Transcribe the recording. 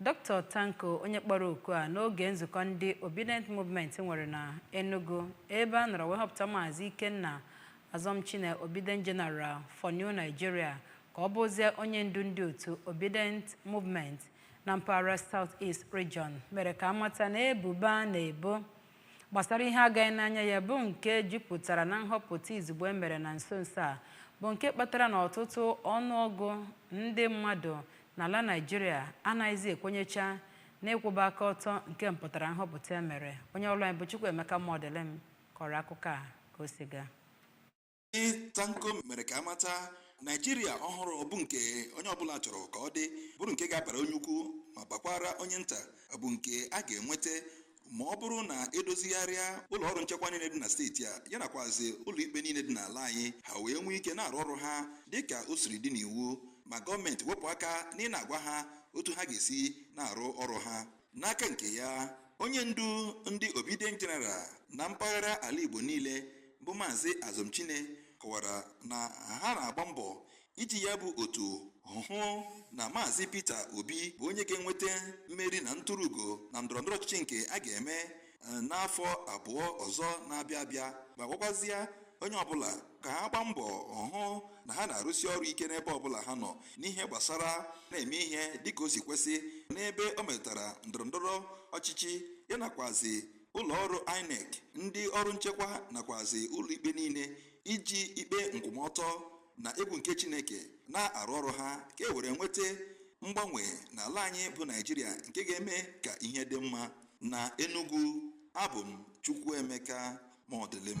Dr. Tanko onye kpọrọ oku a n'oge nzukọ ndị Obidient Movement nwere na Enugu ebe a nọrọ wee họpụta Maazị Ikenna Azọmchine Obidient General for New Nigeria ka ọ bụzie onye ndu ndị otu Obidient Movement na mpaghara South East Region mere ka a mata na ebubo a na-ebo gbasara ihe agaghị n'anya ya bụ nke jupụtara na nhọpụta izugbe e mere na nso nso a bụ nke kpatara na ọtụtụ ọnụọgụ ndị mmadụ n'ala Naịjirịa anaghịzi ekwenyecha n'ịkwụba aka ọtọ nke mpụtara nhọpụta e mere onye ọrụ anyị bụ Chukwuemeka Mọdịlịm kọrọ akụkọ a ka o si gaa Tanko mere ka a mata Naịjirịa ọhụrụ bụ nke onye ọbụla chọrọ ka ọ dị bụrụ nke ga-abara onye ukwu ma bakwaara onye nta bụ nke a ga-enweta ma ọ bụrụ na e dozigharịa ụlọ ọrụ nchekwa niile dị na steeti a ya nakwazi ụlọikpe niile dị n'ala anyị ha wee nwee ike na-arụ ọrụ ha dịka o siri dị n'iwu ma gọọmenti wepụ aka n'ịna-agwa ha otu ha ga-esi na-arụ ọrụ ha n'aka nke ya onye ndu ndị obidient general na mpaghara ala igbo niile bụ maazị azọmchine kọwara na ha na-agba mbọ iji ya bụ otu hụ na maazị peter obi bụ onye ga-enweta mmeri na ntụrụugo na ndọrọndọrọ ọchịchị nke a ga-eme n'afọ abụọ ọzọ na-abịa abịa ma gwakwazie onye ọbụla ka ha gbaa mbọ hụ na ha na-arụsi ọrụ ike n'ebe ọbụla ha nọ n'ihe gbasara na-eme ihe dịka o si kwesị n'ebe o metụtara ndọrọndọrọ ọchịchị ya nakwazi ụlọ ọrụ INEC ndị ọrụ nchekwa nakwazi ụlọikpe niile iji ikpe nkwụmọtọ na egwu nke Chineke na-arụ ọrụ ha ka e were nweta mgbanwe n'ala anyị bụ Naịjirịa nke ga-eme ka ihe dị mma Na Enugu, abụ m Chukwuemeka Mọdịlịm.